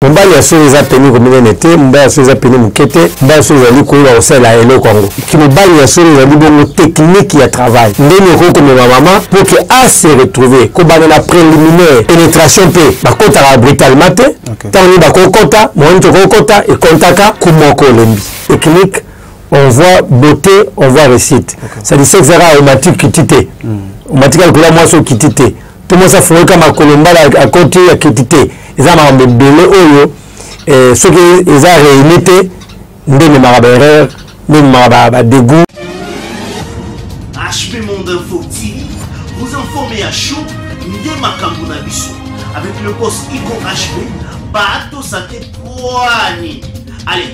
mobali ya solo eza peni kominene te mobali ya solo eza peni moke te mobali ya solo ezali koyeba kosalela eloko yango mobali ya solo ezali bongo teknike ya travail ndenge okoki komema mama mpo ke ase retrouve kobanda na préliminaire pénétration mpe bakotaka brutalement te ntango nini bakokota moyani tokokota ekontaka kumoko olembi teknike on voit beauté on voit réussite c'est-à-dire sexe aromatique kiti te omatika likolo ya mwasi okiti te tout mosi afongoki ka makolo mbala akoti akiti te eza makambo ebele oyo eh, soki eza réuni te nde ememaka baerreur nde ememaka badegout HP Monde Info TV vous informez à chaud nde makambo na biso avec le boss Ico HP bato sate pwani allez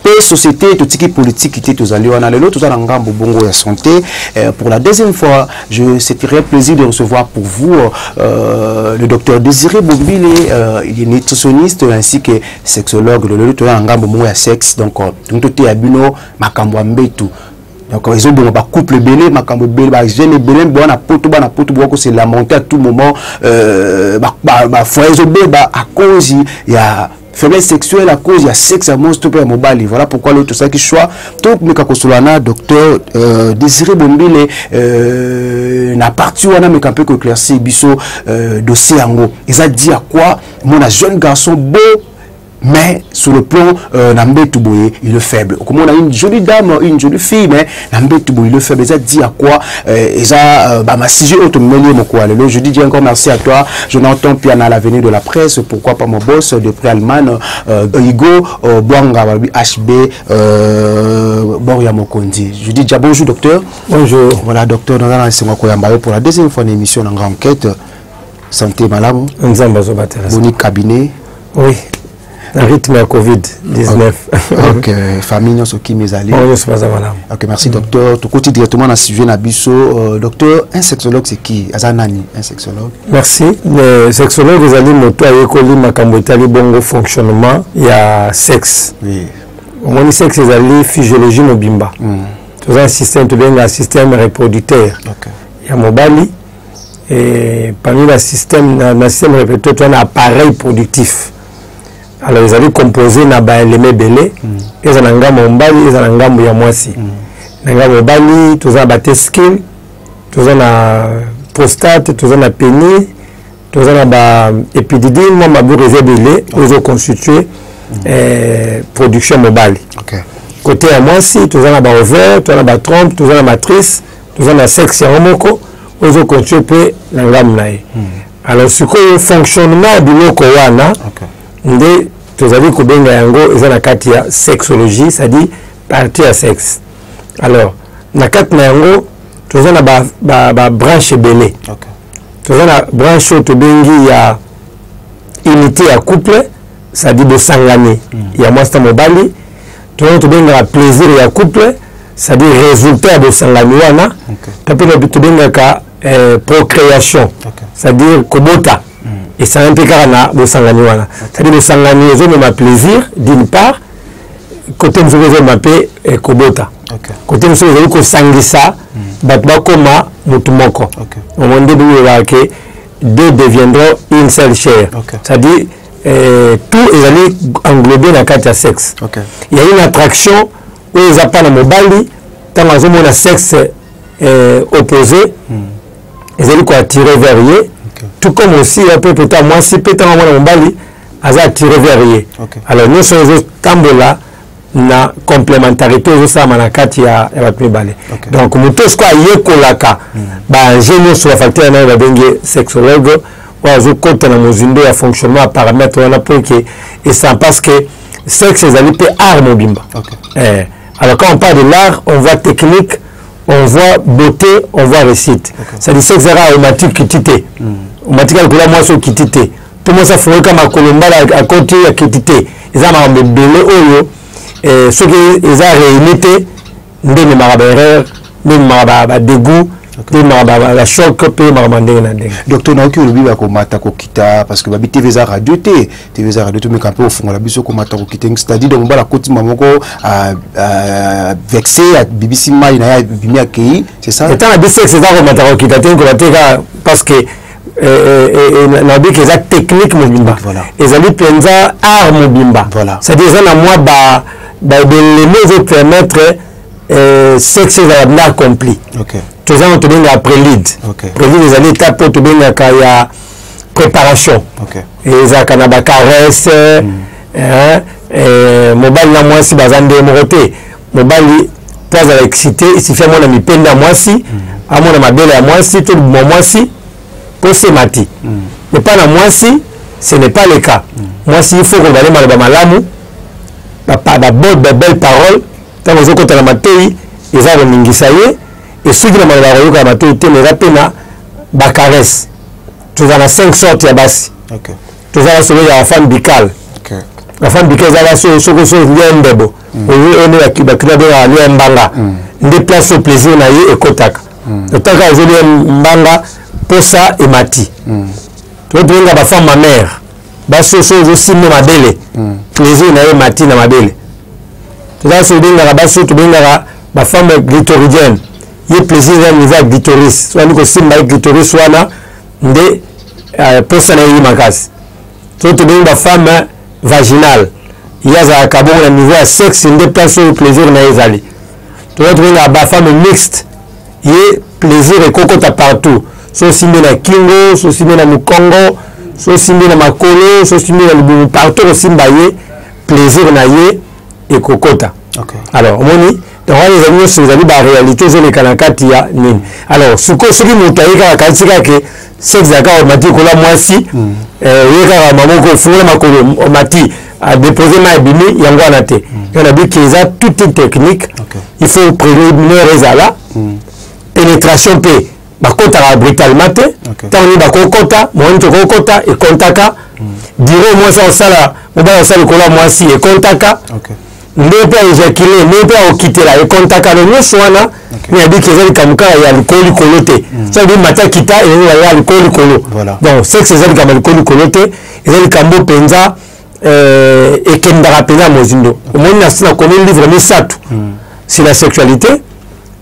mpe société totiki politique te tozali wana lelo toza na ngambo bongo ya santé euh, pour la deuxième fois je c'est très plaisir de recevoir pour vous euh, le docteur Désiré Bombile euh, il est nutritionniste ainsi que sexologue lelo toza na ngambo bongo ya sexe donc euh, toteya bino makambo ya mbetu donc ezoboma bacouple ebele makambo ebele bajeune ebele boa na poto bana poto boa kose lamante à tout moment euh, bafoye ezobeba à cause ya faiblesse sexuelle à cause ya sexe ya mwasi to mpe ya mobali voilà pourquoi lelo tosalaki choix tomeka kosolola na docteur euh, désiré bombile euh, na parti wana meka mpe koéclaircir biso euh, dossier yango eza dit à quoi mona jeune garçon beau mais sur le plan euh, na mbetu boye il est faible okomona une jolie dame une jolie fille mais na mbetu boilo faible eza dit à quoi euh, eza euh, ba masije oyo tomemeli ye mokolo lelo je dis encore merci à toi jonathan piana l'avenue de la presse pourquoi pas mon boss de près allemagne euh, hugo euh, bwanga balobi hb euh, bor ya mokonzi je dis déjà bonjour docteur bonjour voilà docteur naza na esengo ya koyamba yo pour la deuxième fois na émission na nga enquête santé malamu nzambe azobatela boni cabinet oui rythme ya covid 19 ok famille nyonso kimi ezali bango nyonso baza malamu ok merci mm. docteur tokoti directement na sujet na biso euh, docteur un sexologue c'est qui aza nani un sexologue merci le sexologue ezali moto ayekoli makambo etali bongo fonctionnement ya sexe oui. omoni sexe ezali physiologie mobimba mm. toza na système tobenga système reproducteur okay. ya mobali et parmi la système na, na système répété to na appareil productif alors ezali composé na ba éléments belé mm. eza na ngambo ya mobali eza na ngambo ya mwasi mm. na ngambo ya mobali toza na ba tescule toza na prostate toza na pénis toza na ba épididime mwa maboko eza ebele oyo ezo constitue mm. eh, production mobali okay. côté ya mwasi toza na ba ovaire toza na ba trompe toza na matrice toza na sexe yango moko ozo continue mpe na ngambo na ye hmm. alors sikoyo fonctionnement ya biloko wana nde tozali kobenga yango eza na kati ya sexologie c'est-à-dire partie ya sexe alors na kati na yango toza na babranche ebele toza na branche oyo tobengi ya unité ya couple c'est-à-dire bosangani hmm. ya mwasi na mobali toyo tobengaka plaisir ya couple c'est-à-dire résultat ya bosangani wana to mpe tobengaka eh, procréation c'est-à-dire kobota hmm. esangani mpe kaka na bosangani wana c'est-à-dire bosangani ezomema plaisir d'une part kote mosusu ezomema mpe eh, kobota kote mosusu ezali kosangisa hmm. bato bakoma motu moko omo nde bibelaka ke deux deviendront une seule chair c'est-à-dire eh, tout ezali englobe na kati ya sexe okay. ya une attraction oyo eza mpa na mobali ntango azomona sexe eh, opposé mm. ezali koattire vers ye okay. tout comme aussi ya mpe peta mwasi mpe ntango amona mobali aza attire vers ye okay. alors nyonso ezotambola na complementarité ezosalama na kati ya, ya bato mibale okay. donc moto oyo sikoyo ayekolaka mm. baenjeu nyonso bafacteur nayo babengi sexologue oyo azokota na mozindo ya fonctionnement ya parametre wana mpo eke esan parce que sexe ezali mpe art mobimba okay. eh. alors quand on parle de l'art on voit technique on voit beauté on voit réussite okay. c'est-à-dire sexe ezaka omatiki kiti te mm. omatika likolo ya mwasi okiti te tout mosi afungolika makolo mbala akoti akiti te eza makambo ebele oyo eh, soki eza réuni te nde ememaka baerreur nde ememaka badegout mpe ememaka bachoc mpe makambo ya ndenge na ndenge docteur nayoki olobi bakomata kokita parce que babi tv eza radio te tv eza radio tomeka mpe ofungola biso komata kokita c'est-à-dire donc mobala akotima moko ah, ah, vexe abibisi mai na ye abimi akei c'est ça etanga bisexe eza komata kokita te nkoba te kaka parce que Eh, eh, eh, nayebi ke eza technique mobimba ezali mpenza art mobimba c'est-à-dire eza na mwa baelemo ezopermettre sexe ezala bna accompli toza na tobengaka prélide prélide ezali étape oyo tobengaka ya préparation ezalaka na bacaresse hmm. mobali na mwasi baza nde moko te mobali mpo azala excité esifi amona mipende ya mwasi mm. amona mabele ya mwasi to libuma mwasi mpo se mati mm. epai na mwasi ce n'est pas le cas mm. mwasi il faut koloba nde maloba malamu babode babelle parole ntango ozokota na matoi eza koningisa ye esuki na maloba akoyoka ya matoi te eza mpe na bacaresse toza na 5 sorte ya basi toza na solo ya femme bicale la femme bicale eza na soki soki ya ndebo mm. oye one ya bakina benga alia mbanga mm. nde place plaisir na ye ekotaka mm. otaka azolia mbanga posa emati mm. totobenga bafemme ma mère basoso ezosimba mabele mm. plaisir na ye emati na mabele toza so obengaka baso tobengaka bafemme glitoridienne ye plaisir ya niveau ya glitoris soki alingi kosimba ye glitoris wana nde euh, posa na ye makasi to tobengi ba femme vaginale ye azalaka bongo na niveau ya sexe nde place oyo plaisir na ye ezali toza tobenga ba femme mixte ye plaisir ekokota partout so osimbi na kingo so osimbi na mokongo so osimbi na makolo so osimbi na libumu partout osimba ye plaisir na ye ekokota okay. alors omoni donc wana ezali nyonso ezali baréalité ezoleka na kati ya nini alors sikoyo soki moto aye kaka kanisi kaka ke sexe ya kaka omati kola mwasi mm. eh, oye kaka mamoko ofungola makolo omati adepose mai ebimi yango wana te mm. yo nabi ke eza toute une technique okay. il faut préliminaire ezala mm. pénétration mpe bakotaka brutalement te ntango nini bakokota mokolo nini tokokota ekontaka dire mwasi akosala mobali akosala likolo ya mwasi ekontaka ndenge mpe aejakile ndenge mpe akokitela ekontaka no nyonso wana nayebiki eza likambo kaka ya likolo likolo te hmm. soki mata kita ezali ya likolo likolo donc sexe eza likambo ya likolo likolo te eza likambo mpenza euh, ekendaka mpenza mozindo omoni na komi livre misato hmm. c'est la sexualité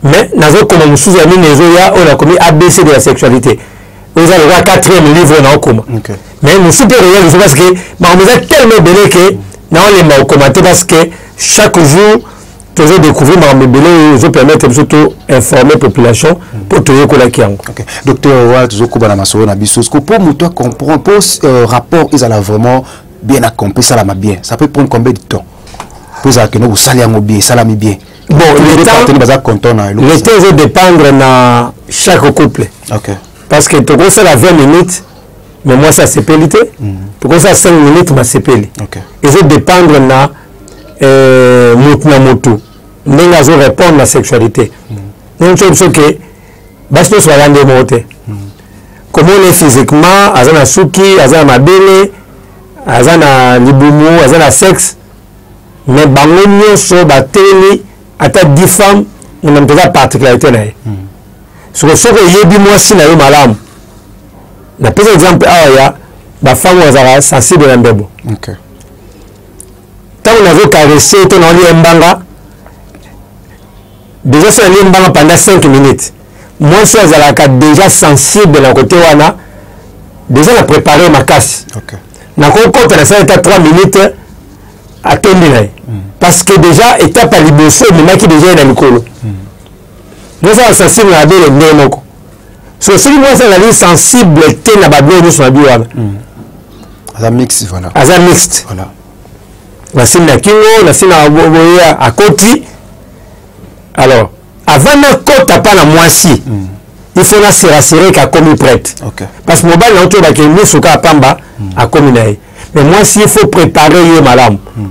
mais nazo koma mususu ya mine ezo ya oyo nakomi abc de la sexualité oza lokola quatrième livre oyo naokoma okay. mais mosusu mpe okoya lisu parce que makambo eza tellement ebele ke naolemba kokoma te parce que chaque jour tozo découvrir makambo ebele oyo ezo permettre biso to informer population mpo toyekolaki yango docteur wana tozokoba na masolo na biso siko mpo moto acomprendre mpo euh, rapport ezala vraiment bien accompli esalama bien ça peut prendre combien de temps mpo ezala kende kosala yango bien esalami bien bon le temps baza content na le temps ezo dépendre na chaque couple okay. parce que tokosala 20 minutes mais moi ça sepeli te mm. tokosala 5 minutes masepeli okay. ezo dépendre na euh, motu na motu ndenge azo répondre na sexualité mm. donc toyebi biso ke basi nyonso baza nde moko te mm. komona ye physiquement aza na suki aza na mabele aza na libumu aza na sexe mais bango nyonso batelemi ata dix femme mona moto eza particularité na ye hmm. soko soki oyebi mwasi na yo malamu napesa exemple awa ya bafemme oyo azalaka sensible na mbebo ntango nazo caresse to naolia mbanga déjà soki nalie mbanga pendant 5 minutes mwasi oyo azalaka déjà sensible na kote wana déjà na prépare makasi okay. nakokota na sala ata 3 minutes atondi na ye mm. parce que déjà etape ya liboso ememaki déjà ye na likolo mm. bozala sensible na babele ndenge moko so soki mwasi azali sensible te na babele nyonso na bi wana mm. aza mixte voilà. aza mixte voilà. nasimbi na kingo nasimbi na boye akoti alors avant nakota mpa na mwasi mm. il faut naserasere ke akomi prête okay. parce que mobali nango toyebake miso kaka pamba mm. akomi na ye mais mwasi il faut prépare ye malamu mm.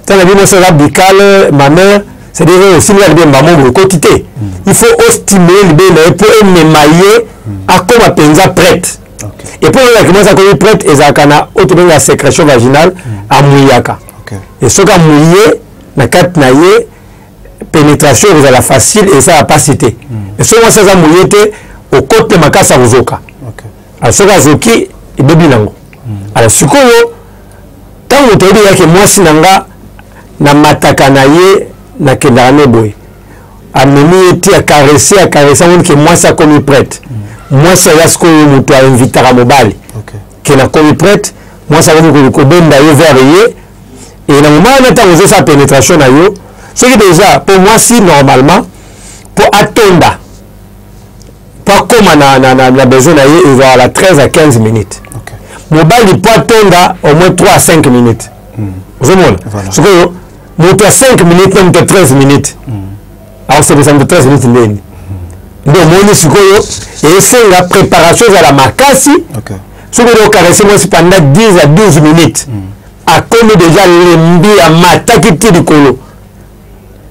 tala bino sala bicale ma mère c'est-à-dire oyo osimilaka libe mbamo boye ekoti te mm. il faut ostimule libe na ye mpo emema ye mm. akoma mpenza prête okay. epuis oyaki mwasi akomi prête ezalaka na oyo tobengaka sécrétion vaginale mm. amuyaka okay. e soki amuye na kati na ye penetration ekozala facile ezala mpasi te hmm. soki mwasi aza moye te okote makasi ya kozoka alors soki azoki ebebi nango hmm. alors sikoyo ntango toyebi yake mwasi na nga namataka na ye nakendaka ne boye amemi ye ti akarese akarese amoni ke mwasi akomi prete hmm. mwasi aya sikoyo moto ainvitaka mobali ke nakomi prete mwasi akomi kobenda ye vere ye e na moma wana ntango ozosala penetration na yo soki deja mpo mwasi normalement mpo atonda mpo akóma na, na, na, na besoin na ye ezalala 13 à 15 minutes okay. mobali mpo atonda au moins 3 à 5 minutes mm. ozomona voilà. sikoyo moto ya 5 minutes na moto ya 13 minutes mm. akosepesa moto 13 minutes ndeni nde omoni sikoyo esenga préparation ezala makasi okay. soki ozo caresse mwasi panda 10 à 12 minutes mm. akomi deja lembi amataki ti likolo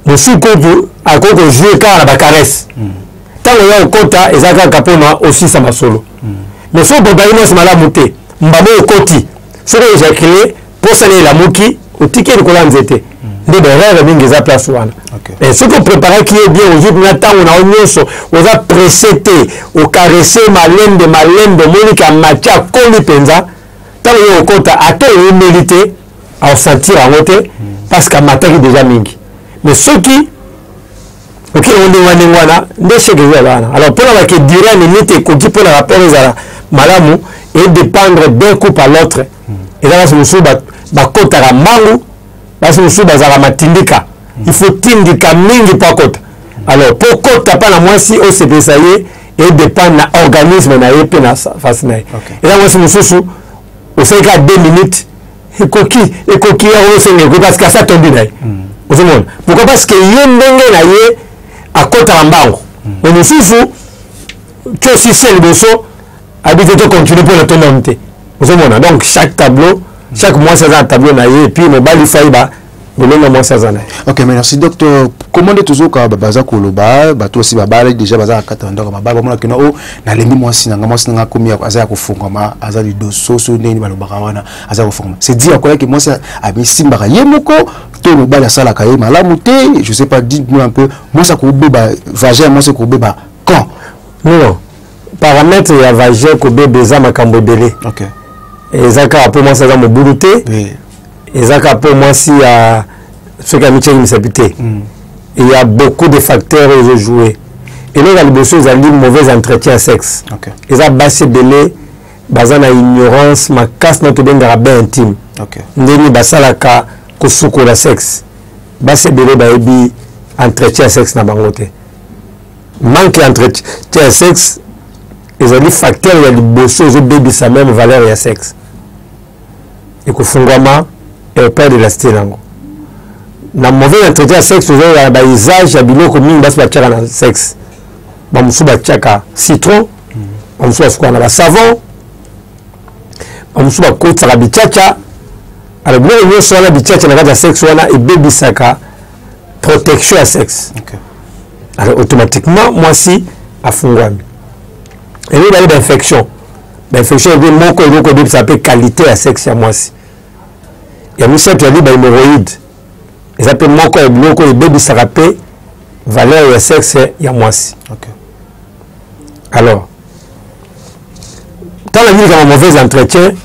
mosusu kutu akoki kozue kaka na bacaresse ntango mm. ya okota eza kaka mpona osisa masolo mm. mais soki bobali mwasi malamu te mbamo okoti soki ojakile posa na elamuki otiki ye likolo ya nzete nde baerreur mingi eza place wana eh, soki opreparaki ye bien ozwi mpena ntango na yo nyonso oza presse te okarese malembe malembe omoni ka mati akoli mpenza ntango yo okota ata oyemeli te aosentir yango te parce que amataki deja mingi mais soki oke olingalinga wana nde sheke ezala wana alors mpo na bake dura nini te ekoki mpo na rapport ezala malamu edépendre d'un coup par l'autre hmm. eza basi mosusu bakotaka mbangu basi mosusu bazalaka matindika hmm. il faut tindika mingi mpo akota alors mpo okota mpa na mwasi osepelisa ye edépendre na organisme na ye mpe na face na ye eza mwasi mosusu osalika 2 minutes ekoki ekoki yango osenga ekoki parce que asi atombi na ye hmm. ozomona pourquoi parce que ye ndenge na ye akotaka mbango hmm. me mosusu cosisi ya liboso abite to continue mpo na tomomi te ozomona donc chaque tableau chaque mwasi aza na tableau na ye epuis mobali fai lolenge ya mwasi aza na ye ok merci docteur comment nde tozoka baza koloba bato osi babala déjà baza na kati na ndako mabala bamona kina o oh, nalembi mwasi nanga mwasi nanga akomi aza ya kofungwama aza lidoso so ndenge balobaka wana aza kofungwama c'est dit akoyaki mwasi amisimbaka ye moko to mobali asalaka ye malamu te je sais pas dit moi un peu mwasi akobeba vagin ya mwasi ekobeba quand non paramètre ya vagin kobeba eza makambo ebele eza kaka mpo mwasi aza mobulu te eza ka mpo mwasi ya soki amityaki misapi te mm. il y a beaucoup de facteurs oyo ezojoue eloko ya liboso ezali mauvais entretien ya sexe okay. eza basi ebele baza na ignorance makasi na tobengaka bain intime okay. ndenge basalaka kosukola sexe basi ebele bayebi entretien ya sexe na bango te manque ya entretien ya sexe ezali facteur ya liboso ezobebisa meme valeur ya sexe ekofungwama airport de la cité nango na mauvais entretien ya sexe ozoyoka na bausage ya biloko mingi basi batyaka na sexe bamosusu batyaka citron bamosusu basukaka na basavon bamosusu bakotisaka bicaca alors biloko nyonso wana bicaca na kati ya sexe wana ebebisaka protection ya sexe okay. alors automatiquement mwasi afungwami elobi bali bainfection bainfection elobi moko elobi kobebisa mpe qualité ya sexe ya mwasi ya misato yali bahemoroïde eza mpe moko ya biloko oyo ebebisaka mpe valeur ya sexe ya mwasi okay. alors ntango nabi likambo mauvaise entretien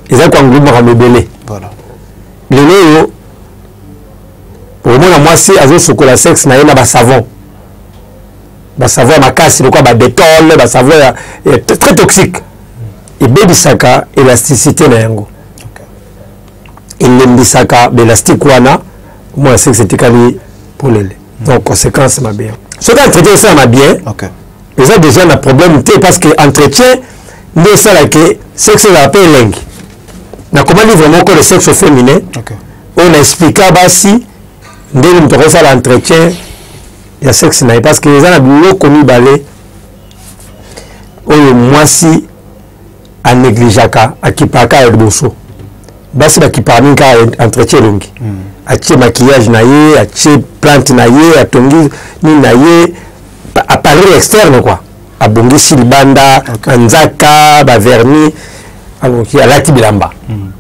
eza koanglobe makambo ebele voilà. lelo oyo okomona mwasi azosukola sexe na ye na basavon basavoir makasi lokola badetole basavoir ya, ya très toxique ebebisaka elasticité na yango elembisaka baelastique wana omona sexe etikali polele donc conséquence mabe yango soki entretien esalama bien okay. eza déjà na problème te parce que entretien nde esalaka sexe ezala mpe elengi nakoma livre moko le sexe féminin okay. oyo na explika basi ndenge moto akosala entretien ya sexe na ye parce que eza na biloko mibale oyo mwasi anegligeaka akipaka ya liboso basi bakipaka mingi kaka entretien elongi mm. atie maquillage na ye atie plante na ye atongi nini na ye appareil externe kua abongisi libanda okay. nzaka baverni alati bilamba mm.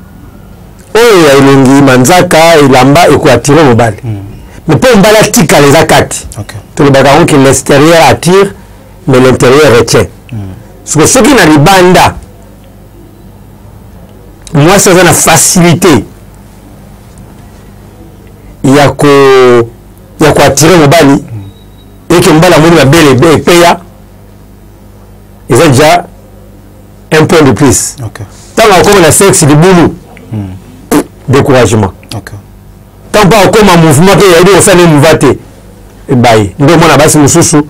oyo ya elongi manzaka elamba ekoatire mobali mm. mais mpo mobali atikala eza kati okay. tolobaka yango ke l'extérieur attire mais l'intérieur retient mm. soko soki na libanda mwasi aza na facilité ya ko ya koatire mobali mm. eke mobali amoni mabele epeya eza deja un point de plus ntango akoma na sexe libulu hmm. découragement ntango mpo akoma mouvement mpe yayebi kosala ye mouva te ebaye nde omona basi mosusu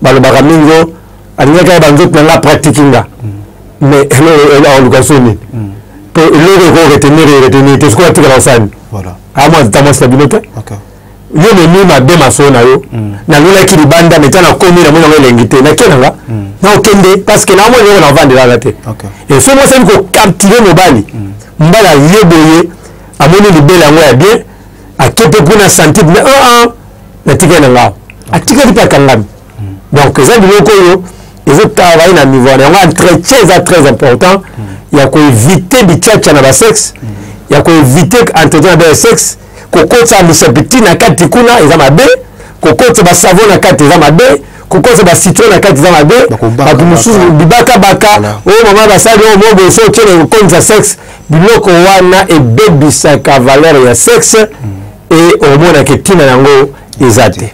balobaka mingi o alingaki ayeba nzoto na nga praktiki nga hmm. mais aoluka so nini hmm. mpo eloko ekoki retenir retenir te soki atikala osani amwa ata mwasi na bino te yo momi mabe mafo na yo mm. nalulaki libanda meta nakomi namoni yango elengi te nake nanga mm. nakokende parceke naomoni eloko navandelaka te efo mwasi ali kokaptile mobali mm. mbala ye boye amoni libele yango ya bien ake mpe kuna santi me aa ah, ah, natikali na ngao atikali mpe akangami donc eza biloko oyo ezotravaille na niveau wana yango entretien eza très important ya koevite bicaca na basexe ya koevite entretien na basexe kokotisa misopiti na kati kuna eza mabe kokotisa basavo na kati eza mabe kokotisa bacitron na kati eza mabe bato mosusu bibakabaka oyo oh, mama basali oyo oh, mo boso otyele kokonisa sexe biloko wana ebebisaka valeur ya sexe e omonaka ntina yango eza te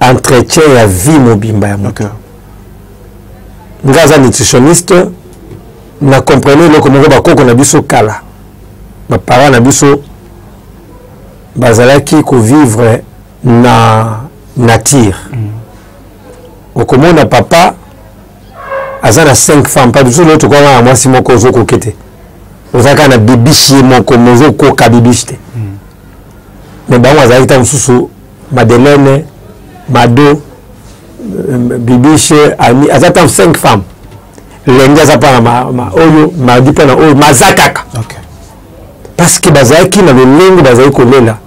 entretien ya vie mobimba ya moto okay. nga aza nutritionniste na comprene eloko moko bakoko na biso kala baparent na biso bazalaki kovivre na nature mm. okomona papa aza na 5 femme pa biso lelo tokoka na mwasi moko ozokoke te oza kaka na bibishi ye moko mozokoka bibishi te mm. me bango azalaki ntango mosusu madeleine mado euh, bibiche ami aza ntango 5 femmes lenge aza mpo na oyo madi mpo na oyo maza kaka okay. parce que bazalaki na lolenge bazali kolela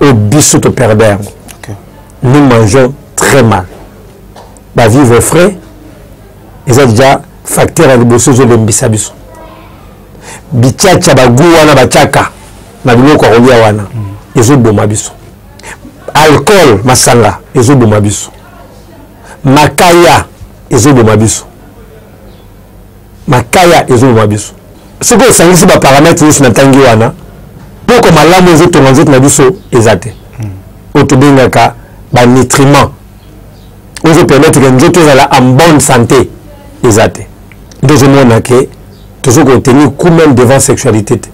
oyo biso toperde yango okay. nous mangeons très mal bavivre frais eza deja facteur ya liboso ezolembisa biso bicaca bagou wana bacaka na biloko ya kolia wana ezoboma biso alcool masanga ezoboma biso makaya ezoboma biso makaya ezoboma biso soki osangisi baparametre nyonso na ntangi wana mpoko malamu ezotonga nzoto na biso eza te hmm. oyo tobengaka banitriment ozopermettre ke nzoto ezala en bonne santé eza te nde ozomona ke tozo ko tenir coup même devant sexualité te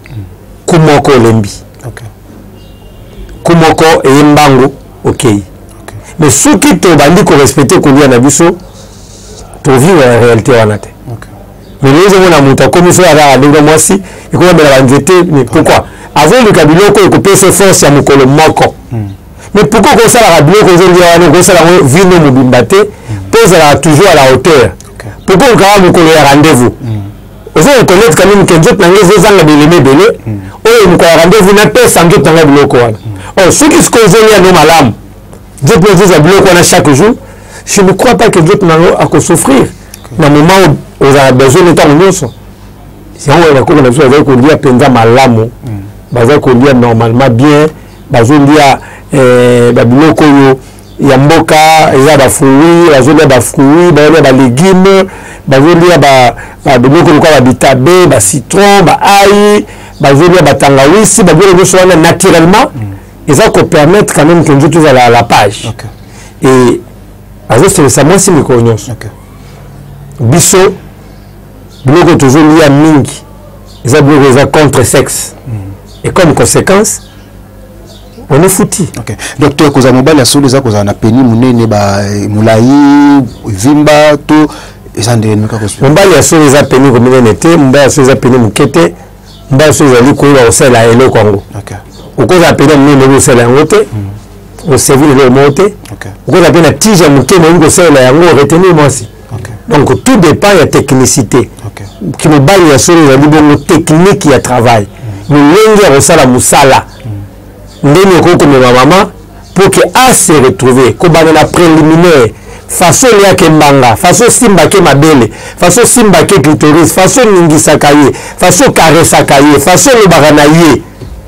coup moko olembi coup moko eye mbangu okei mais soki tobandi korespecte kolia na biso tovivre na réalité wana te mais lelo ozomona moto akomi so azaka ndenge mwasi ekomamela banzete mais pourquoi azoluka biloko ekopesa force ya mokolo moko hmm. mais pourquoi okosalaka biloko ozongia wana okosala yango vino mobimba te mpo ozalaka toujours à la hauteur pourquoi okokaka mokolo ya rendez-vous hmm. ozo reconnaitre quand même que nzoto na ngai ezozanga bileme ebele hmm. oyo mokolo ya rendez-vous napesa nzoto na ngai biloko wana hmm. or oh, soki sikoyo ozongi yango malamu nzoto na ezozwa biloko wana chaque jour je ne crois pas que nzoto na yango akosouffrir na moment ozala besoin na ntango nyonso yango oyo bakoko na biso bazali kolia mpenza malamu bazali kolia normalement bien bazolia eh, babiloko oyo ya mboka eza bafruit bazolia bafruit bazolia balegume bazolia babiloko lokola babitabe bacitron baai bazolia batangawisi babiloko nyonso wana naturellement eza kopermettre quand même ke nzoto ezala la page okay. e azoselisa mwasi mikolo nyonso okay. biso biloko tozolia mingi eza biloko eza contre sexe mm. et comme conséquence on est fouti okay. donc toya kozala mobali ya solo eza kozala na peni monene eh, molai vimba to eza ndenge nini kaka mobali ya solo eza peni kominene te mobali ya solo eza peni moke te mobali ya solo ezali koyeba kosalela eloko yango okozala peni ya monene oyebi kosalela yango te hmm. oservir eloko moko te okozala mpe na tige ya moke moyebi kosalela yango retenir mwasi okay. donc tout dépend ya technicité okay. kimobali ya solo ezali bongo technique ya travail mm. lolenge ya kosala mosala mm. ndenge okoki komema mama pour que a se retrouver kobanda na préliminaire faso eliaka embanga faso osimbaka mabele faso osimbaka clitoris faso oningisaka ye faso okaresaka ye faso olobaka na ye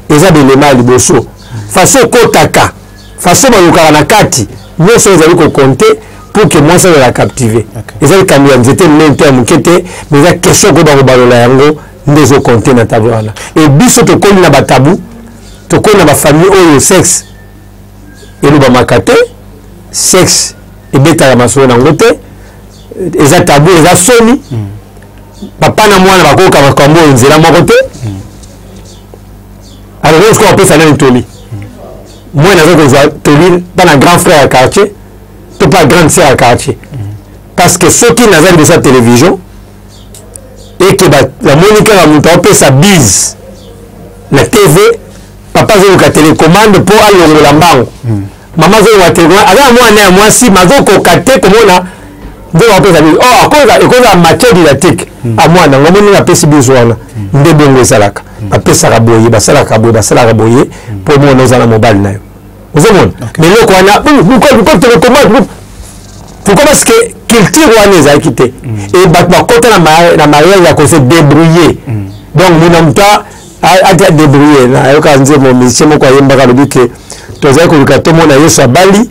eza belema ya liboso faso okotaka façon balukaka na kati nyonso ezali kokonte pour que mwasi azala captive eza likambo ya nzete minene to ya moke te mais eza question koyeba kobalola yango nde ezokonte na tablo wana e biso tokomi na batabu tokomi na bafamille oyo sexe elobamaka te sexe ebetaka masolo na yango te eza tabu eza soni hmm. papa na mwana bakoyoka makambo oyo nzela moko te hmm. alors oyo sikoyo apesa nani toli moi naza kozwa toli mpa na grand frère ya quartier to mpa grande sœur ya quartier parce que soki naza liboso ya télévision eke namoni kaka moto aopesa bise na tv papa azoluka telecommande mpo alongola mbango mm. mama azoloba te aza na mwana ya mwasi mazokoka te komona nde bakopesa biso o oh, akoza ekozala matière didactique hmm. a mwana yango moni napesi biso wana hmm. nde bongo ezalaka hmm. bapesaka boye basalaka boye basalaka boye mpo omona oza na mobali na yo ozomona mais eloko wana pourquoi parce que culture wana ezalaki te e bato bakota na mariage ya kose débrouiller donc mona moto ata debrouille nayoka nzembo musicien moko ayembaka alobi ke tozali koluka tomona yesu abali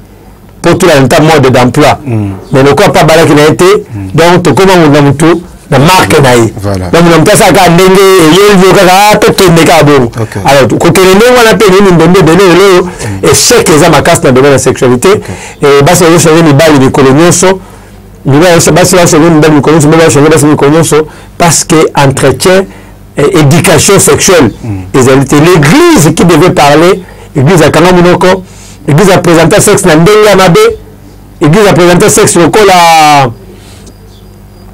mpo tolanda nta mode d'emploi mm. mais lokola mpe abalaki na ye te mm. donc tokoma moto na motu na marke na ye donc na moto asala kaka ndenge eyeli yo kaka ah, tokende kaka bongo alors kokende ndenge wana mpe nini ndonde ebele lelo oyo mm. echec eza makasi na domaine ya sexualité basi bazo change mibali mikolo nyonso basi bazo change mibali mikolo nyonso mibali bazo change basi mikolo nyonso parce que entretien eh, éducation sexuelle mm. ezali te l'église qui devait parler église akanga monoko église apresenta sexe na ndenge ya mabe église apresenta sexe lokola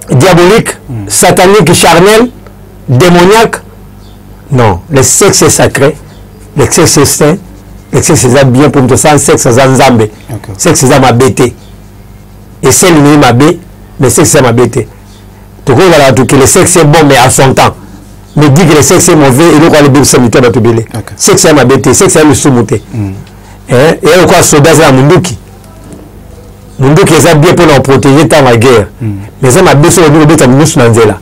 diabolique mm. satanique charnel démoniaque non le sexe est sacré le sexe est saint le sexe eza bien mpo moto asala sexe aza nzambe sexe eza mabe te eseli nini mabe mais sexe eza mabe te tokoki kala batu que le sexe est bon mais à son temps mais dit que le sexe est mauvais eloko wana ebebisa mitu ya bato ebele sexe ya mabe te sexe ya lisumu te mm. eh, eya lokola soda aza ya munduki munduki eza bien mpo na koprotege ntango ya guerre mm. mais eza mabe soki olingi kobeta minusu na nzela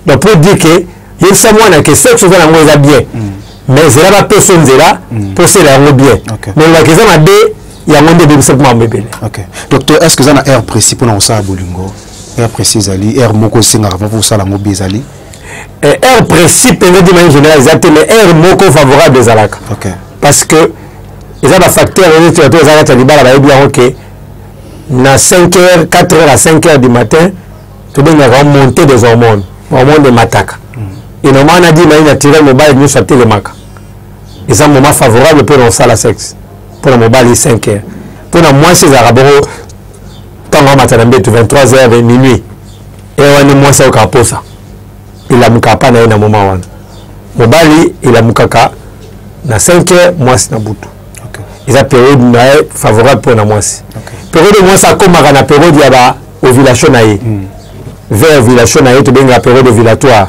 donc mpo dire que yebisa mwana ke sexe oza nango eza bien mm. mais ezela bapesa nzela mpo osela yango bien mais olobaka eza mabe yango nde ebebisa mpo makambo ebele docteur est ce que eza na heure précis mpo na kosala bolingo heure précis ezali heure moko esengaka mpo osala yango bi ezali eh, heure précis mpenza dima en général eza te mais heure moko favorable ezalaka parce que eza bafacteur neti bato eza kati ya libala bayebi yango ke na 5 heures 4 heures à 5 heures du matin tobengaka monte des hormones hormone emataka mm. et normalement na dima ye naturel mobali nyonso atelemaka eza moment favorable mpo na kosala sexe mpo na mobali 5 heures mpo na mwasi ezalaka boko ntango amata na mbetu 23 heures minuit eya wana mwasi ayoka aposa elamuka apa na ye na moma wana mobali elamukaka na 5 heures mwasi na butu eza periode na ye favorable mpo na mwasi periode mwasi akomaka na periode ya ba ovulation na ye mm. vers ovulation na ye tobengaka periode ovulatoire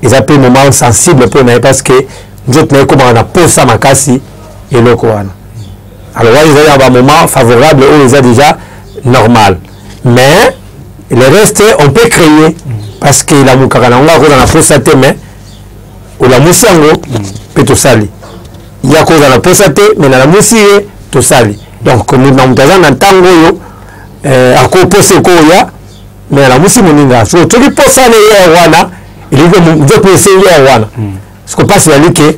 eza mpe moment sensible mpo na ye parce que nzoto na ye ekomaka na posa makasi eloko wana alors wana ezali na bamoment favorable oyo eza déjà normal mais le reste on peut créer parce que elamukaka na yango akozala na posa te mais olamusi yango mpe tosali ye akozala na posa te mais nalamusi ye tosali donc moto na moto aza na ntango oyo eh, akoposa ekoya mais alamusi moninga soki soki posa na ye wana elingi nzoto esengi ye wana sikoyo mpasi ezali ke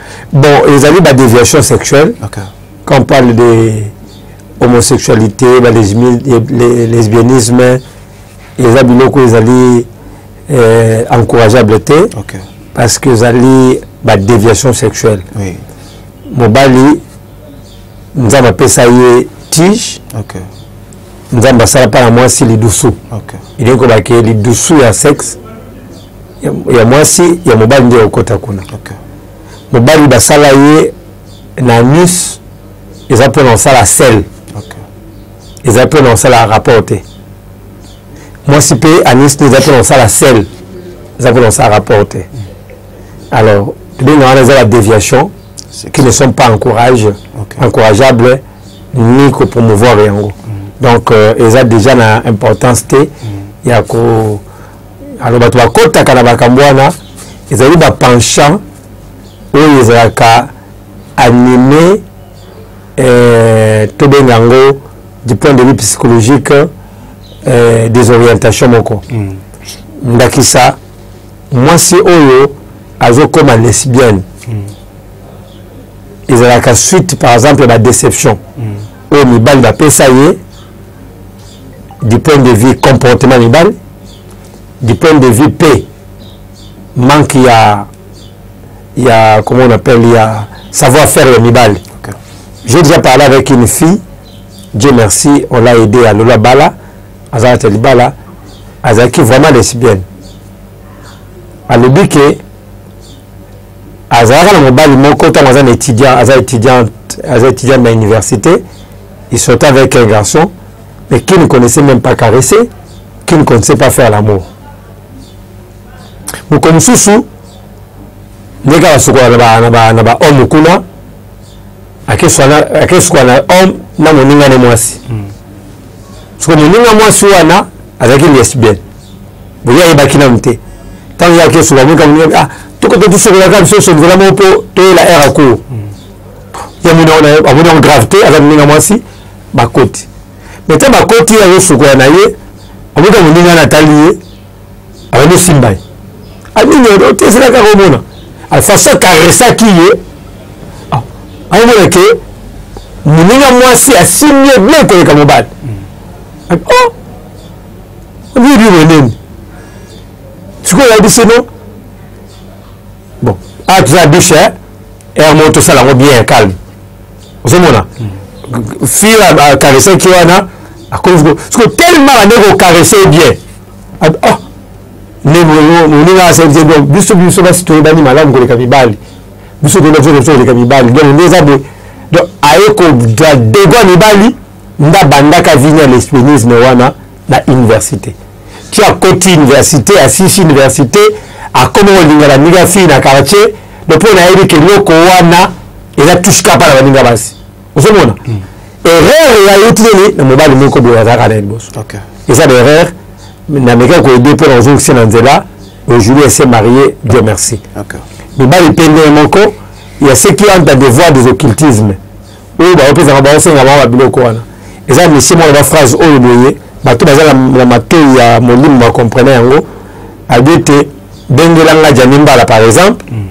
bon ezali ba déviation sexuelle okay. quand on parle de homosexualité ba lesbianisme eza biloko ezali euh, encourageable te okay. parce que ezali ba déviation sexuelle oui. mobali nzambe apesa ye tige okay. nzambe asala mpa na mwasi lidusu okay. elingi kobake lidusu ya sexe ya mwasi ya mobali nde okota kuna okay. mobali basala ye na anus eza mpo na kosala sel okay. eza mpo na kosala rapport te mwasi mpe anus nde eza mpo na kosala sel eza mpo na kosala rapport te mm. alors tobenga wana eza la déviation qui ne sont pas encourage, okay. encourageables ni kopromouvoir yango mm. donc euh, eza déjà na importance te mm. ya ko alors bato bakotaka na makambo wana ezali bapenchant oyo ezalaka anime eh, tobenga yango du point de vue psychologique eh, des orientations moko mm. ndakisa mwasi oyo azokoma lesbienne mm. ezalaka suite par exemple ya badéception mm. oyo mibali bapesa ye du point de vue comportement mibale du point de vue pe manque ya ya comment on appelle ya savoir faire ya mibale okay. j'ai déjà parlé avec une fille dieu merci on l'a aidé à lola bala azalaki ya libala azalaki vraiment lesbienne alobi ke azalaka na mobali moko ntango aza na étudiant aza étudiante aza étudiante na université Il sortait avec un garçon, mais qui ne connaissait même pas caresser, qui ne connaissait pas faire l'amour. moko mosusu ndenge basukola na bahomme kuna akesukola na homme na moninga ne mwasi hmm. soko moninga mwasi wana azalaki lesbienne boye ayebaki nanu te ntango ye akesukola moninga moninga ah tokoto tosukolaka biso sonzela moko mpo toyela era cour hmm. ye amoni yango grave te aza moninga mwasi bakoti me te bakoti ye azosukola na ye amoka moninga na atali ye abandi osimba ye anini otesela kaka omona alfaso akaresaki ye ah, aomona ke moninga mwasi asimbi ye bien koleka mobali mm. oh! oyebi wenene sikoyo oyebisi no bon awa ah, toza bishe heure moko tosala yango bien calme ozomona fille akaresaki wana akomi siko tellement bande kokarese bien oh, moninga asaidie donc biso biso basi toyebani malamu koleka mibali biso toyeba biso biso koleka mibali donc nde eza boye donc aye kodegwa mibali nda bandaka vini ya lesbianisme wana na université ti akoti université asisi université akoma kolinga baninga fille na quartier do mpo nayebi ke eloko wana eza touche kapa na baninga basi ozomona hmm. erreur ya yo tineli na mobali moko boye azalaka na ye liboso eza na erreur namekaki koyede mpo na kozongisa na nzela aujourd'hui elle s'est mariée dieu merci mibali mpe ndenge moko ya ce qui entre devoir des occultisme oyo baopesaka baosenga bango babiloko wana eza misie mwana baphrase oyo boye bato baza na matoi ya molimo bakomprene yango abi ete bengela nga jani mbala par exemple mm.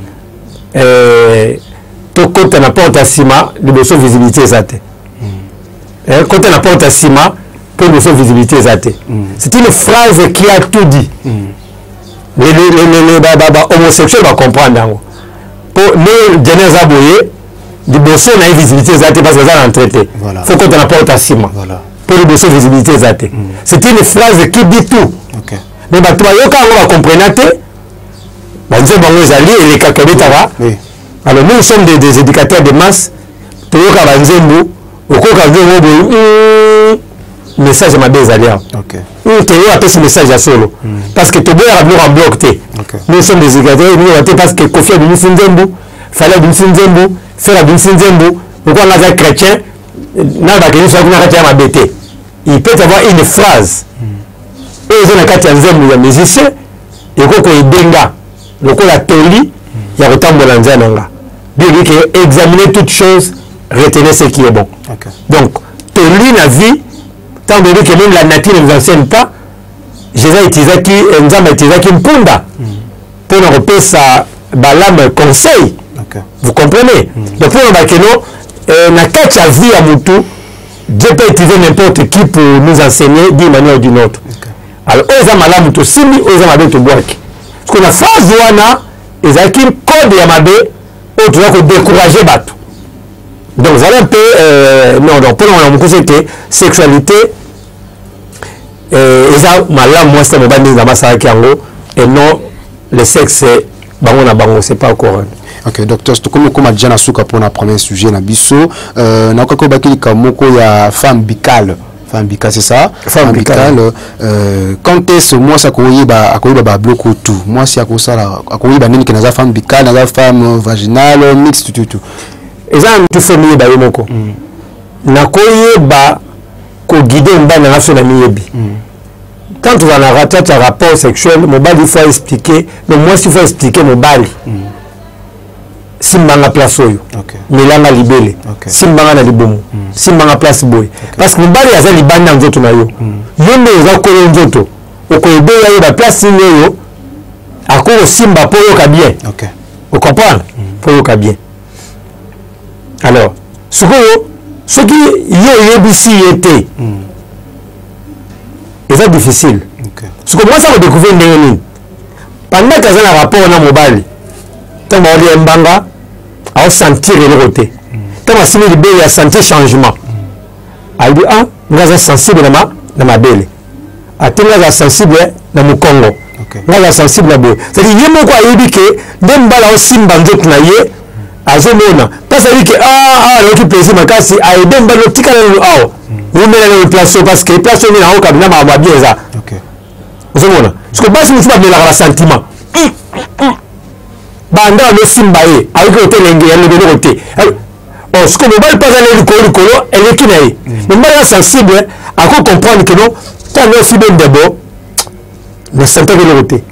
eh, tokota na porte ya nsima liboso visibilité eza te mm. eh, kota na porte ya nsima mpo liboso visibilité eza te mm. c'est une phrase qui a tout dit bahomosexuel bacomprendre yango mpo ne jani aza boye liboso na ye visibilité eza te parce que aza na entrée te faut kota na porte ya nsima mpo liboso visibilité eza te mm. c'est une phrase qui dit tout mais bato bayoka yango bacomprena te banzembo yango ezali elekaka ebetaka alors nous sommes des, des éducateurs de masse toyoka banzembo okoka nzembo boye hmm, message mabe ezali awa hmm, toyo apesi message ya solo hmm. parce que toboyaka biloko ya bloc te nous sommes des éducateurs te parce que kofi abimisi nzembo fali abimisi nzembo fer abimisi nzembo lokola nga aza chrétien na bakende soki na kati ya mabe te il peut avoir une phrase oyo eza na kati ya nzembo ya musicien ekoki koyede nga lokola toli ya kotambola nzela na nga biologie ke examiner toute chose retenez ce qui est bon okay. donc toli na vie ntango toyebi ke meme la nature ne vous enseigne pas jésus utilisaki eh, nzambe utilisaki mpunda mm. mpo na kopesa balame conseil okay. vous comprenez mm -hmm. donc mpo na bakeno eh, na kati ya vie ya motu dieu peut utiliser n'importe qui pour nous enseigner d'une manière ou d'une autre okay. alors oyo eza malamu tosimbi oyo eza mabe tobwaki parceke na phase wana ezalaki code ya mabe oyo toza kodécourage bato donc zala mpe euh, non donc mpo na wana mokuse ete sexualité eh, eza malamu mwasi na mobali ndenge nzambe asalaki yango et non le sexe bango na bango c'est pas coran ok docteur tokomi okoma deja na suka mpona premier sujet na biso euh, nakokaki obaki likambo moko ya femme bicale femme bicale c'est ça femme bicale euh, quand est ce mwasi akoyeba akoyeba babloko tout mwasi akosala akoyeba nini ke naza femme bicale naza femme vaginale mixte tutu eza na mitu femme yeba ye moko mm. nakoyeba koguide mobali na nga so namiyebi quand ozala na ratate ya rapport sexuel mobali ifo aexplike no mwasi ifo aexplike mobali simbanga place oyo okay. milanga libele okay. simbanga na libumu mm. simbanga place boye okay. parce que mobali aza libanda ya nzoto na yo mm. yo nde oza kolo nzoto okoyebeya ye baplace nini oyo akokosimba mpo oyoka bien okay. ocomprendre mm. mpo oyoka bien alors sikoyo soki yo oyebisi ye te mm. eza difficile okay. sikoyo mwasi akodécouvrir ndenge nini pandaki aza na rapport na mobali ntango baoli ya mbanga aosentir eloko te mm. ntango asimi libele ya sentir changement mm. alobi a ah, nga aza sensible na mabele ate nga aza sensible na mokongo nga aza sensible na boye cetadi ye moko ayebi ke nde mbala osimba nzoto na ye azomona mpasi ayebi ke aa nayoki plaisir makasi aede mbala otikala nanu awa wumela nanu place oyo parce que place oyo nde nango kabina makambo ya bien eza ozomona siko basi mosusu bamelaka na sentiment banda osimba ye ayoki otelenge ya lobenoko te or siko mobali mpe aza na ye likolo likolo eleki na ye mm. mais mobali aza sensible ako comprendre que non ntango osi bendebo nasantaki eloko te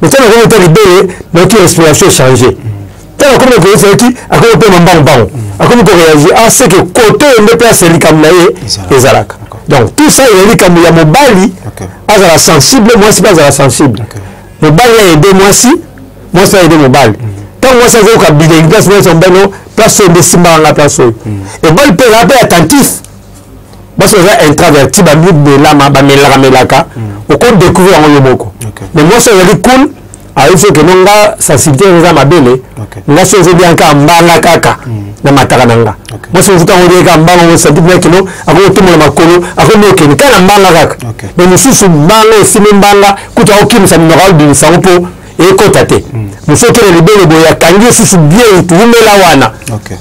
mais ntango akomi ota libele nayoki respiration echange ntango akomi na koyesa yoki akomi mpe mambango mbango mm. akomi koreagir a ah, ce que kote oyo nde mpe asa likambo na ye ezalaka donc tout ça ezali likambo ya mobali azala sensible mwasi mpe azala sensible mobali ya ede mwasi mwasi ayebi mobali ntango mwasi azoyoka bilengi place mwasi ambano place oyo nde esimbaka ngai place oyo ebali mpe ezala mpe attentif basi baza intraverti bamibelama bamelaka melaka okodécouvrir yango yo moko mais mwasi azali cool ayebi soki no nga sensibilité yango eza mabele nga soki ezobia kaka mbanga kaka hmm. na mataka na nga mwasi mosusu ntango olie kaka mbanga ngo sensibilité na kino akokotomola makolo akomokende kaka na mbanga kaka mais mosusu mbanga esimi mbanga kutu akokimisa minoko abimisa yango mpo ekota te mosu okende libolo boye akangi osusu bien itu wumela wana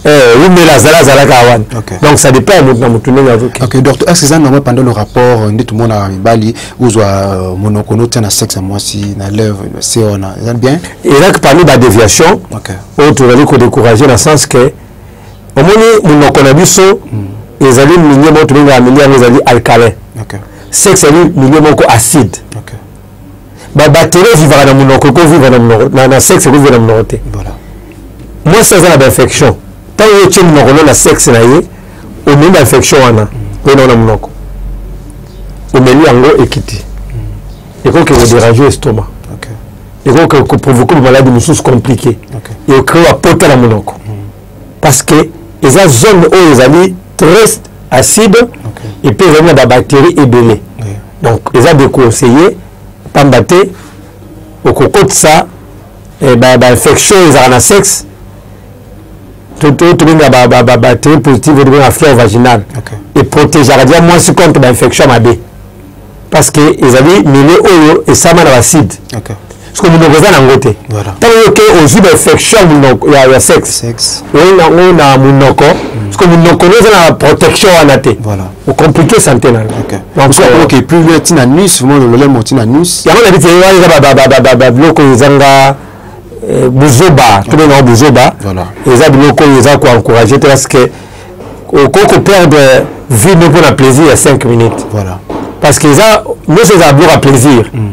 eh, wumela zala azalaka wana donc ça dépend ya moto na moto ndenge azoki ok docteur est ce eza normal pendant le rapport euh, nde tomonaka mibali ozwa euh, monoko notia na sexe ya mwasi na lève se wana eza bien ezaki parmi badeviation oyo tozali kodécourage na sens que omoni monoko na biso hmm. ezali milieu moko tobengaka milieu yango ezali alcalin sexe ezali milieu moko acide ba batterie vivaka na munoko eko vivre na munoko na, na sexe eko vivre na munoko te voilà moi ça za ba infection tant yo tie munoko na sexe na ye omemi ba infection wana pe na munoko omeli yango ekiti eko ke ko déranger estomac okay eko ke ko provoquer ba maladies mususu compliquées okay. et créer ba pota na munoko mm. parce que eza zone oyo ezali très acide okay. et puis ezali na babactérie ebele yeah. donc eza déconseille mpamba te okokotisa eh, bainfection ba ezalaka na sexe tobenga babactérie positive oyo tobenga fleur vaginale okay. eprotegeaka dia mwasi contre bainfection mabe parce que ezali milieu oyo esama na bacide okay. soki monoko eza nango te ntango yoke ozwi bainfection ya sexe oyi nango na monoko hmm. soki monoko no eza na protection wana te ocomplike sante na yoke plus loin ntina nus mololemo ntina nus yango na biti wana eza babiloko ezanga eh, buzoba tobengango buzoba eza biloko oyo eza koencourage te parce que okoki koperdre vie no mpo na plaisir ya 5 minutes voilà. parce que eza nyonso eza abloka plaisir mm.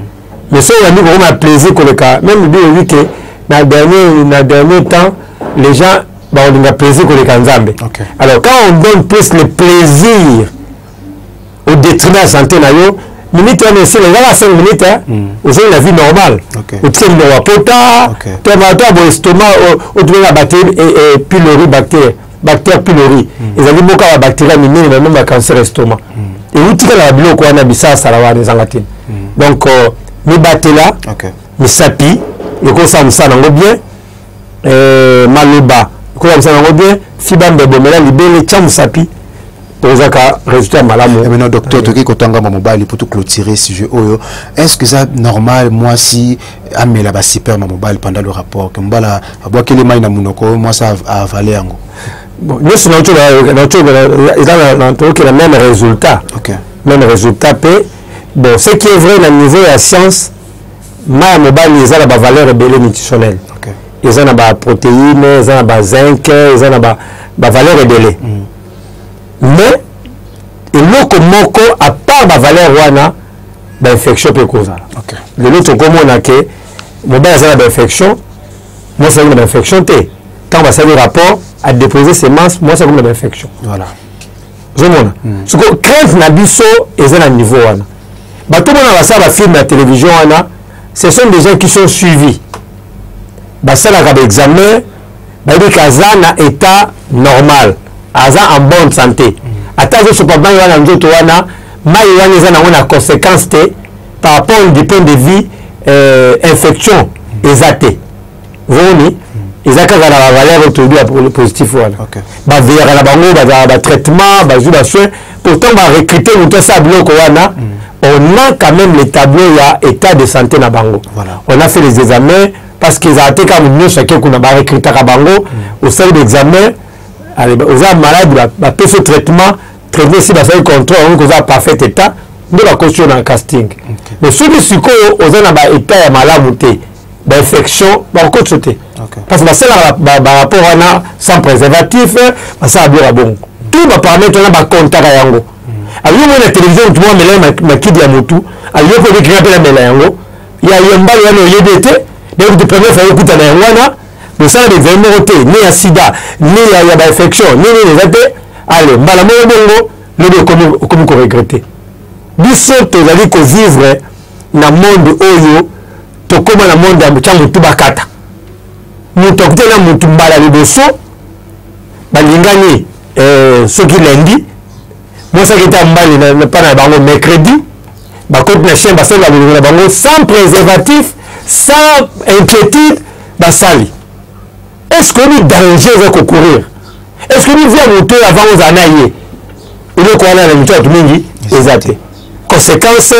mais soki oyambi kokoma ya plaisir koleka meme bi oyebi ke na dernier, na dernier temps les gens bakolinga plaisir koleka nzambe okay. alors quand on donne plus le plaisir au détriment ya santé na yo minute wana esila ezaka 5 minute hmm. ozongi na vie normale otikeli na wapota to bato ya boestoma otumela bactérie pilori bactérie bactère pylori mm. ezali moko ya bacteria minene na nomba ya cancer estoma mm. euti kaka na biloko wana bisalasala wana ezanga te mm. donc euh, mibatela okay. misapi ekosala mosala yango bien euh, maloba ekosala mosala yango bien fiba mbebo mela libele tya mosapi ozaka résultat malamu eh, maintenant docteur toki kotanga ma mobali pour tout clôturer sujet oyo est ce que ça normal moi si amela ba super ma mobali pendant le rapport que mbala abwakeli mai na munoko moi ça a avaler yango bon nyonso na tokela na tokela eza na tokela même résultat okay. même résultat pe bon ce qui est vrai na niveau ya science mai ya mobali eza na ba valeur ebele nutritionnelle okay. eza na ba protéine eza na ba zinc eza na ba ba valeur ebele mm. mais eloko moko à part bavaleur wana bainfection mpe ekozala okay. lelo tokomona ke mobali aza na bainfection mwasi akomi na bainfection te ntango basali rapport adepose semence mwasi akomi na bainfection voilà. ozomona mm. soko crainte na biso eza na niveau wana bato mona basala bafilme ya télévision wana ce sont des gens qui sont suivis basalaka baexamen bayebi ke aza na état normal aza en bonne santé ata azosopa mai wana nzoto wana mai wana eza nango na conséquence te par rapport du point de vue euh, infection eza te omoni eza kaka na bavaleur oyo toyebi ya positif wana baveyaka na bango bazala batraitement bazwi basoin pourtant barecrute moto asala biloko wana mm. on a quand même le tableau ya état de santé na bango voilà. on a fait les examens parce que ezala te kaka nyonso ake kuna barecrutaka bango osali baexamen oza malade bapesi ba traitement traitement esi basali contrôle yango koza parfait état nde bakosi yo na casting okay. mais soki sikoyo oza na baétat ya malamu te bainfection bakokotisa te okay. parce que basalaka barapport wana sans préservatif basala biloko ya bongo tout baparamètre wana bakontaka yango mm. ayoki na télévision motu mwa mela makidi ya motu ayoki obikika mpe na mela yango ya yembalo wana oyebi ete donc de première fois okuta na yango wana mosala na examen moko te ni ya sida ni ya, ya bainfection ni nini eza te ale mbala moko bongo lobi okomi koregrete biso tozali kovivre na monde oyo tokóma na monde ya tya motu bakata moto akuti na motu mbala liboso balingani eh, soki lendi bosaki ta mbali na mpana na bango mercredi bakoti na chaine basenga bolongo na bango sans préservatif sans inquiétude basali est ce que oyebi danger eza kocourir est ce que oyebi vie ya moto oyo avant ozala na ye eloko wana na mito ya bato mingi eza te conséquence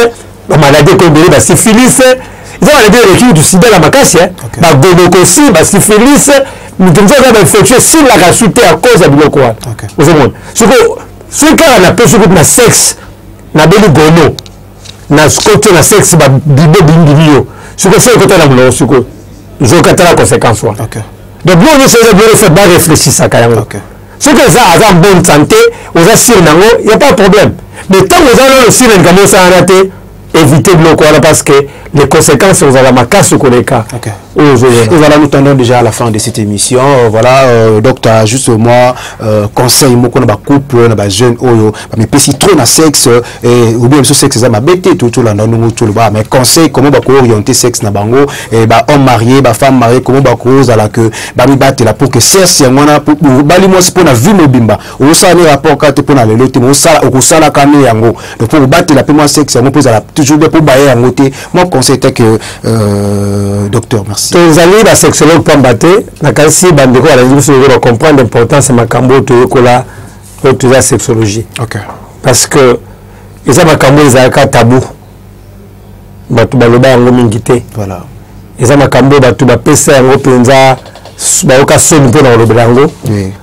bamaladi ekomi ebele basifilise eza maladi eleki kutu sida na makasi eh. bagonokosi basifilise moto mosusu aza bainfection esilaka su te a cause ya biloko wana ozomona sikoyo soki kaka napesi kutu na sexe nabeli gono na kote na sexe babibo bindimi yo sikoyo soki ekota na molongo sikoyo zokatala conséquence wana donc bino nyonso eza bino bareflechisaka yango soki eza aza en bonne santé oza sire nango ya pas problème mais ntango oza nano sire likambo osala wana te éviter biloko wana parce que les conséquences ozala makasi koleka okay. oyo ozoyona voilà nous tendons déjà à la fin de cette émission euh, voilà euh, docteur juste moi euh, conseil moko na bacouple na bajeune oyo bamipesi trop na sexe eh, obi biso sexe eza mabe te tolanda ndongo toloba mais conseil comment bakooriente sexe na bango eh, bahomme marié bafemme marié comment bakozala que bamibatela pour que sexe yango wana obali mwasi mpo na vie mobimba okosala ne rapport kaka te mpo na lelo te okosalaka ne yango donc mpo kobatela mpe mwa sexe yango mpo ezala toujours bien mpo baye yango te mwa conseil te que euh, docteur merci tozali basexologue pamba te nakanisi bandeko balandi biso bacomprendre importance ya makambo oyo toyekola oyo toza sexologie okay. parce que eza makambo ezalaka tabou bato baloba yango mingi te voilà. eza makambo oyo bato bapesa yango mpenza bayoka soni mpo na kolobela yango oui.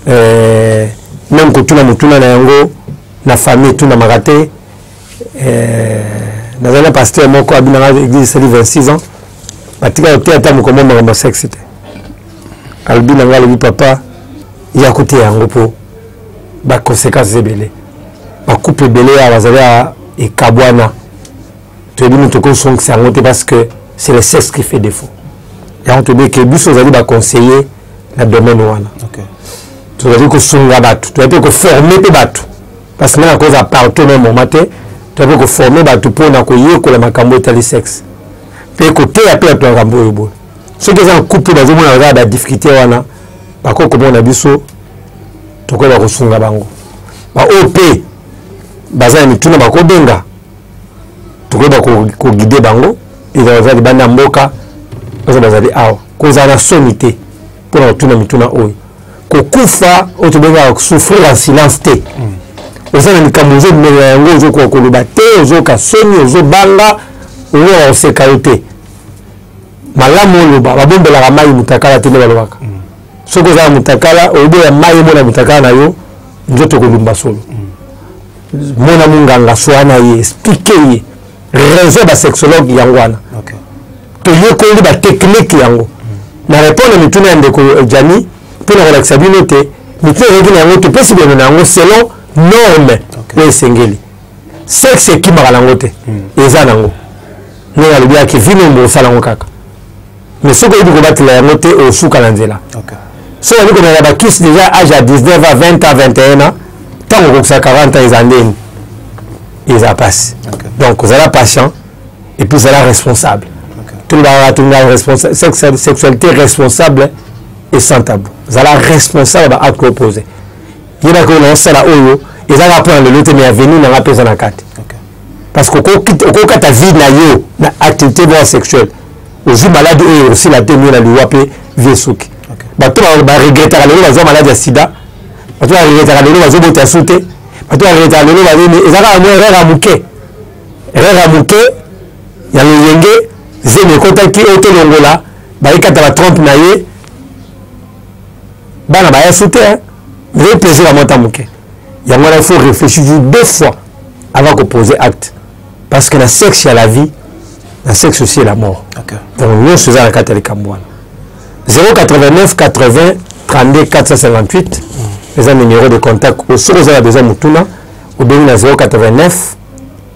eh, meme kotuna motuna na yango na famille etunamaka te eh, nazali na pasteur moko abinanga église esali 26 ans batika koteya ata mokombo makambo ya sexe te alobi na ngai alobi papa ya koteya yango mpo baconséquences ebele bakupe ebele ya bazali ya ekabwana toyebi moto okosongisa yango te parce que c'est le sexe qui fait défaut yango toyebi eke biso ozali baconseiller na domaine wana tozali kosunga bato toyai mpe koforme mpe bato parce que nanga koza partout na moma te toyai mpe koforme bato mpo na koyekola makambo etali sexe mpe koteya mpe bato makambo oyo boye soki eza na couple bazomona kaka ba difficulté wana bakoki komona biso tokoki bakosunga bango baoyo mpe baza na mituna bakobenga tokoki bakogide bango ezala baza libanda ya mboka baza bazali awa kozala na soni te mpo na kotuna mituna oyo kokufa oyo tobengaka souffrir en silence te oza na likambo ozomela yango ozokoka koloba te ozoyoka soni ozobanga ozokoka koseka yo te malamu oloba babombelaka mai mutakala te nde balobaka mm. soki oza na mutakala oboya mai emona mutakala na yo nzoto ekolumba solo mm. mona monganga swa na ye esplike ye raison basexologue yango wana toyekoli batechnike yango mm. na repondre mituna ya ndeko jani mpo na kolakisa bino te mituna ezalaki na yango topesi bino na yango selon norme oyo esengeli sexe ekimaka na yango te eza na yango ndenge alobi ya kivino ombo osala yango kaka mais soki oyebi kobatela yango te osuka na nzela soki oyebi komela bakisi deja age ya 19 a 20 a 21 a ntango okokisa 40 ans eza ndeni eza mpasi donc ozala patient epuis ozala responsable tolobaka tolobaka sexualité responsable et sans tabou zala responsable ba acte opposé yebaka oyo naosala oyo ezalaka mpo na lelo te mais avenir nanga mpe eza na kati parce que okokata vie na yo na activité moko sexuelle ozwi maladi oyo osila te mio na liwa mpe vie esuki bato baregretaka lelo bazwa maladi ya sida bato baregretaka lelo bazobota su te bato baregretaka lelo banini eza kaka mwa erreur ya moke erreur ya moke ya loyenge zemi ekotaki oyo tolongola bayekata ba 30 na ye bana baya su te ezali plaisir ya mwa ta moke yango wana il faut réfléchir toujours deux fois avant ko poser acte parce que na sexe ya la vie na sexe aussi ya la mort okay. donc nyonso eza na kati ya likambo wana 089 80 32 458 eza numéro de contact soki oza na besoin motuna obengi na 089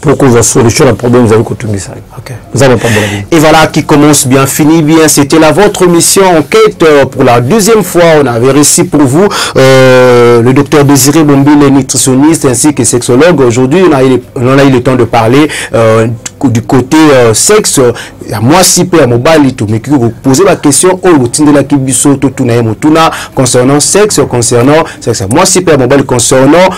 pour que vous solution la problème vous avez kotungi ça. OK. Vous avez pas Et voilà qui commence bien fini bien c'était la votre mission enquête euh, pour la deuxième fois on avait réussi pour vous euh, le docteur Désiré Bombile nutritionniste ainsi que sexologue aujourd'hui on a eu on a eu le temps de parler euh, du côté euh, sexe ya mwasi mpe ya mobali tomeki kopose baquestion oyo botindelaki biso totuna ye motuna concernant sexe concernant sexe ya mwasi mpe ya mobali concernant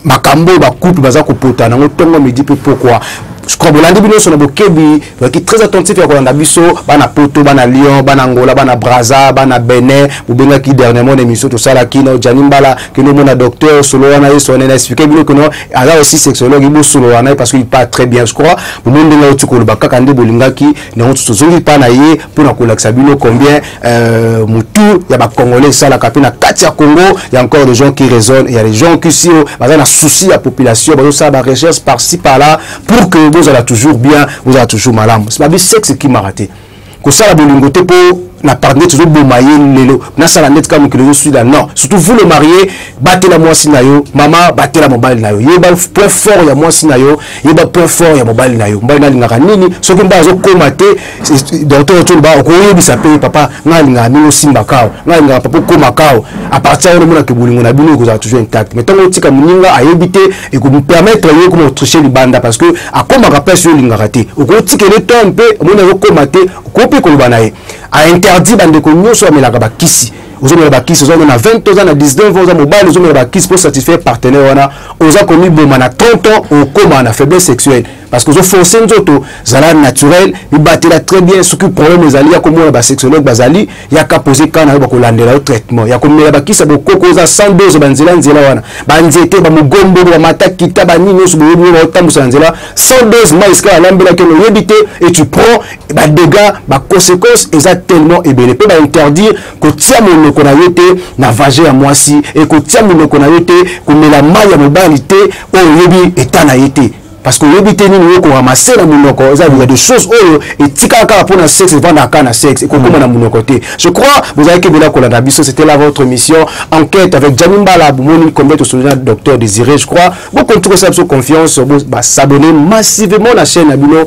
makambo oyo bacouple baza kopota nango ntongo midi mpe pokwa sikoyo bolandi bino nyonso na bokebi ozalaki très attentif ya kolanda biso bana poto bana lyon bana angola bana braza bana benin bobengaki dernièrement na émission tosalaki na jani mbala kende omona docteur solola na ye sone na explike bino kino aza aussi sexologue bosolola na ye parce que il parle très bien je crois bomoni ndenge auti koloba kaka nde bolingaki nango tozongi mpa na ye mpo na kolakisa bino combien Euh, mutu ya ba congolais esalaka mpe na kati ya congo ya encore des gens qui raisonnent ya les gens qui si oh, baza na souci ya population bazosala ba recherche par ci par là pour que bozala toujours bien bozala toujours malamu babi sexe ekimaka te kosala bolingo te mpo na partenaire tozoboma ye lelo nasala ndeti kaka mokili ozoswila non surtout vous le marie batela mwasi na yo mama batela mobali na yo yeba point fort ya mwasi na yo yeba point fort ya mobali na yo mobali nalingaka nini soki mobali azokoma te docteur toloba okoyebisa mpe papa ngai alingaka ndenge osimba kao ngai alingaka papa okoma kao apartir wana omonaka bolingo na bino ekozala toujours intact mais ntango otika moninga ayebi te ekopermettre yo okoma otriche libanda parce que akomaka place yo olingaka te okotika ele to mpe omoni azokoma te okoki mpe koloba na ye ainterdit bandeko nyonso bamelaka bakisi ozomela bakisi oza na 20 oza na 19 oza mobali ozomela bakisi mpo satisfaire partenaire wana oza komiboma na 30 ans okoma na faiblesse sexuelle parce que ozo force nzoto zala naturel mibatela très bien soki problème ezali ya komona basexologue bazali yaka pose ka na yo bakolandela yo traitement ya komela bakisa bokoko oza sans dose banzela nzela wana banzete bamogombolo bamatakita banini nyonso boyebi oyo baotambusa na nzela sans dose mai esika balambelaki ono oyebi te et tu prends badégats baconséquence eza tellement ebele mpe bainterdire kotia monoko na yo te na vage ya mwasi e kotia monoko na yo te komela mai ya mobali te oyo oyebi eta na ye te parce que oyebi te nini oko ramasser na munoko eza il y a des choses oyo etikala kaka pona sexe evanda kaka na sexe ekokoma na munoko te je crois bozalaki ebele kolanda biso c'était là votre émission enquête avec Gianni Mbala bomoni combien tosolola na docteur Désiré je crois bokonti kosala biso confiance ba s'abonner massivement na chaîne na bino